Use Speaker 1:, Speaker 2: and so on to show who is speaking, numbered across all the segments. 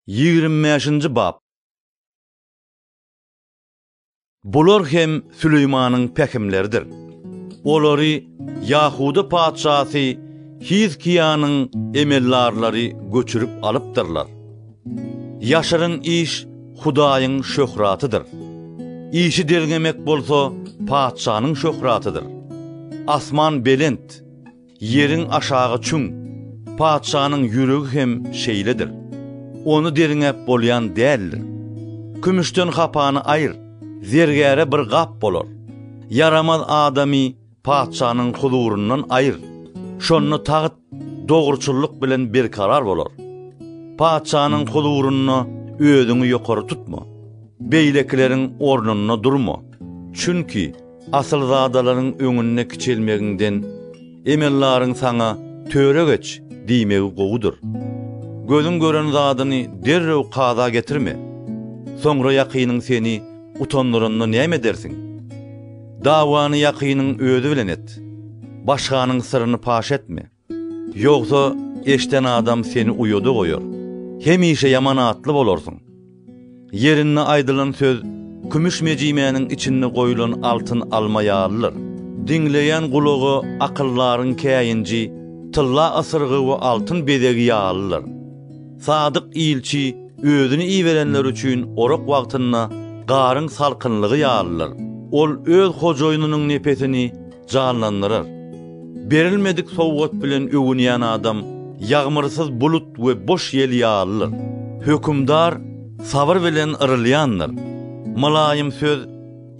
Speaker 1: Ýigrimi bäşinji bap. Bular hem Süleýmanyň pähimleridir. Olary Ýahuda patyşasy Hizkiýanyň emeldarlary göçürip alypdyrlar. Ýaşyryn iş Hudaýyň şöhratydyr. Işi derňemek bolsa patyşanyň şöhratydyr. Asman belent. Ýeriň aşagy çüň. Patyşanyň ýüregi hem şeýledir. Ony derňäp bolýan däldir. Kümüşden hapany aýyr, zergäre bir gap bolar. Ýaramaz adamy patyşanyň huzuryndan aýyr, şonda tagt dogruçyllyk bilen berkarar bolar. Patyşanyň huzurynda özüňi ýokary tutma. Beýlekileriň ornunda durma. Çünki. Asylzadalaryň öňünde kiçelmegiňden emellaryň saňa Töre geç! diýmegi gowudyr. Gözüň gören zadyny derrew kaza getirme. Soňra ýakynyň seni utandyranda näme edersiň? Dawany ýakynyň özi bilen et. Başganyň syryny paş etme. Ýogsa, eşden adam seni uýada goýar, hemişe ýaman atly bolarsyň. Ýerinde aýdylan söz kümüş mejimäniň içinde goýlan altyn alma ýalydyr. Diňleýän gulaga akyldaryň käýinji tylla ysyrgy we altyn bezegi ýalydyr. Sadyk ilçi özüni iberenler üçin orak wagtynda garyň salkynlygy ýalydyr. Ol öz hojaýynynyň nepesini janlandyrar. Berilmedik sowgat bilen öwünýän adam ýagmyrsyz bulut we boş ýel ýalydyr. Hökümdar sabyr bilen yrylýandyr. Mylaýym söz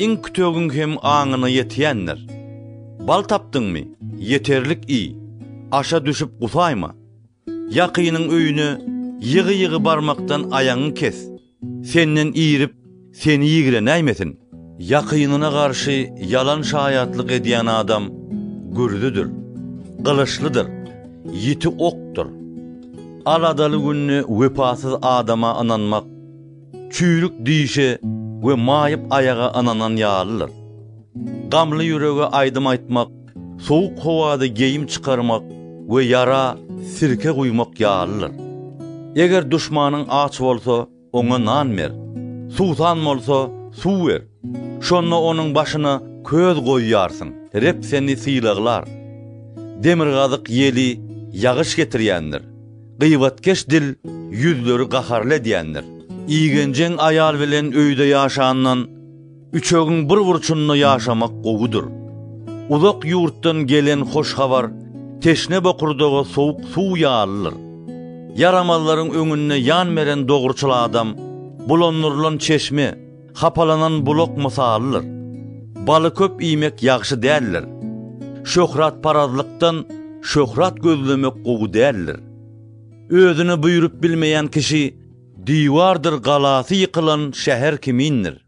Speaker 1: iň kütegiň hem aňyna ýetýändir. Bal tapdyňmy, ýeterlik iý, aşa düşüp gusaýma. Ýakynyň öýüne ýygy-ýygy barmakdan aýagyňy kes. Senden irip, seni ýigrenäýmesin. Ýakynyna garşy ýalan şaýatlyk edýän adam gürzüdir, gylyçlydyr, ýiti okdur. Aladaly günde wepasyz adama ynanmak, çüýrük dişe we maýyp aýaga ynanan ýalydyr. Gamly ýürege aýdym aýtmak, Sowuk howada geýim çykarmak we ýara sirke guýmak ýalydyr. Eger duşmanyň aç bolsa, oňa nan ber. Suwsan bolsa, suw ber. Şonda onuň başyna köz goýarsyň. Reb seni sylaglar. Demirgazyk ýeli ýagyş getirýändir. Gybatkeş dil ýüzleri gaharly edýändir. Igenjeň aýal bilen öýde ýaşandan. Üçegiň bir burçunda ýaşamak gowudyr. Uzak ýurtdan gelen hoş habar teşne bokurdaga sowuk suw ýalydyr. Ýaramazlaryň öňünde ýan beren dogruçyl adam bulandyrylan çeşme, hapalanan bulak mysalydyr. Baly köp iýmek ýagşy däldir. Şöhratparazlykdan şöhrat gözlemek gowy däldir. Özüne buýrup bilmeýän kişi diwardyr galasy ýykylan şäher kimindir.